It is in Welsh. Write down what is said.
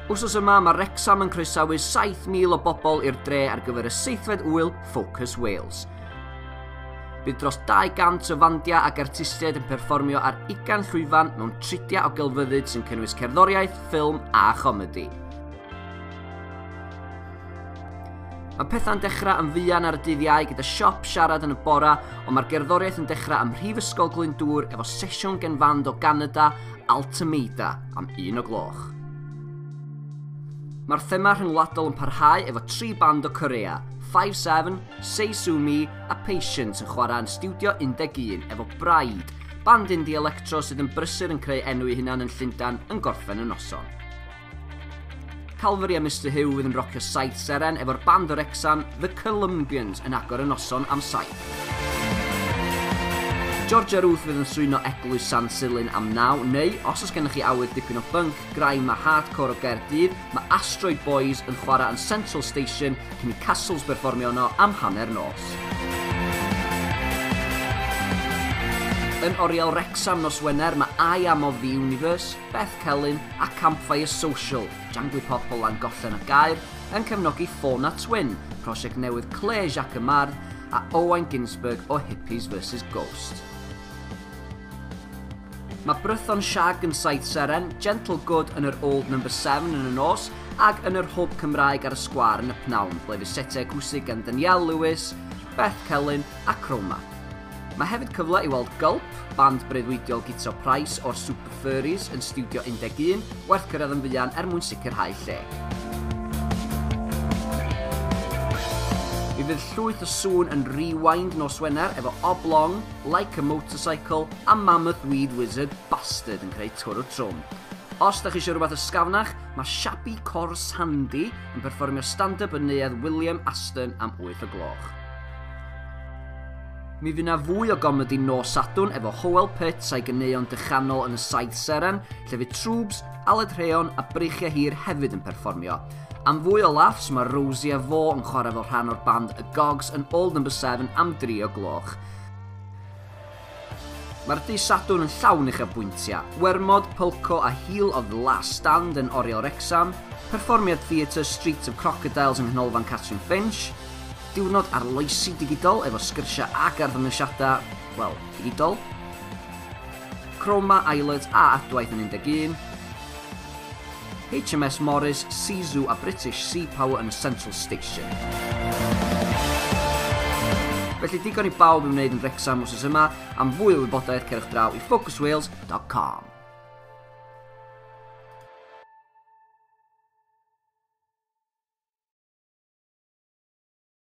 Wsos yma, mae Wrexham yn croesawu 7,000 o bobl i'r dre ar gyfer y seithfed wyl Focus Wales. Bydd dros 200 o fandiau ac artistiaid yn perfformio ar ugain llwyfan mewn tridiau o gelfyddyd sy'n cynnwys cerddoriaeth, ffilm a chomedi. Mae pethau'n dechrau yn fuan ar y dydd iau gyda siop siarad yn y bora, ond mae'r gerddoriaeth yn dechrau ym Mhrifysgol Glyndŵr efo sesiwn gen fand o Ganada Altameda am un o gloch. Mae'r thema rhyngwladol yn parhau efo tri band o Corea, 5-7, Seisumi a Patience yn chwarae yn Studio 11 efo Bride, band indie electro sydd yn brysur yn creu enw i hunan yn Llundan yn gorffen y noson. Calvary a Mister Huw fydd yn rocio saith seren efo'r band o Wrecsam, The Columbians, yn agor y noson am saith. Georgia Ruth fydd yn swyno Eglwys San Silyn am naw, neu os oes gennych chi awydd dipyn o bunk, graim a hardcore o Gaerdydd, mae Asteroid Boys yn chwarae yn Central Station cyn i Castles berfformio yno am hanner nos. Yn oriel Wrecsam nos Wener mae I Am of the Universe, Beth Celyn, a Campfire Social, Jangwipop o Langollen a Gaer, yn cefnogi Fauna Twin, prosiect newydd Claire Jacques y Mardd, a Owain Ginsberg o Hippies vs Ghost. Mae Brython Shag yn Saith Seren, Gentle Good yn yr Old Number 7 yn y nos, ac yn yr Hwb Cymraeg ar y Sgwar yn y Pnawn, ble fydd setiau cwsig gan Danielle Lewis, Beth Celyn a Croma. Mae hefyd cyfle i weld Gulp, band breuddwydiol gitro Price o'r Super Furries yn Stiwdio 11, werth cyrraedd yn fuan er mwyn sicrhau lle. Mi fydd llwyth o sŵn yn rewind nos Wener efo Oblong, Like a Motorcycle a Mammoth Weed Wizard Bastard yn creu twr o trwm. Os da chi eisiau rhywbeth ysgafnach, mae Shabby Cor Sandy yn perfformio stand-up yn neuadd William Aston am 8 o gloch. Mi fu 'na fwy o gomedi nos Sadwrn efo Howell Pitts a'i ganeuon dychanol yn y Saith Seren, lle fu Trwbs, Aled Rheon a Breichiau Hir hefyd yn perfformio. Am fwy o laughs, mae Rosie a fo yn chwarae fel rhan o'r band Y Gogs yn Old Number 7 am dri o gloch. Mae'r dydd Sadwrn yn llawn uchafbwyntiau, Wermod, Pulco a Heel of the Last Stand yn Oriel Wrecsam, perfformiad theatr Streets of Crocodiles yng Nghanolfan Catrin Finch, diwrnod arloesi digidol efo sgyrsiau ac arddangosiadau, wel, digidol, Chroma, Islet a Adwaith yn 11, HMS Morris, Sea Zoo a British Sea Power yn y Central Station. Felly digon i bawb i wneud yn Wrexham wrth yma. Am fwy o wybodaeth cerwch draw i focuswales.com.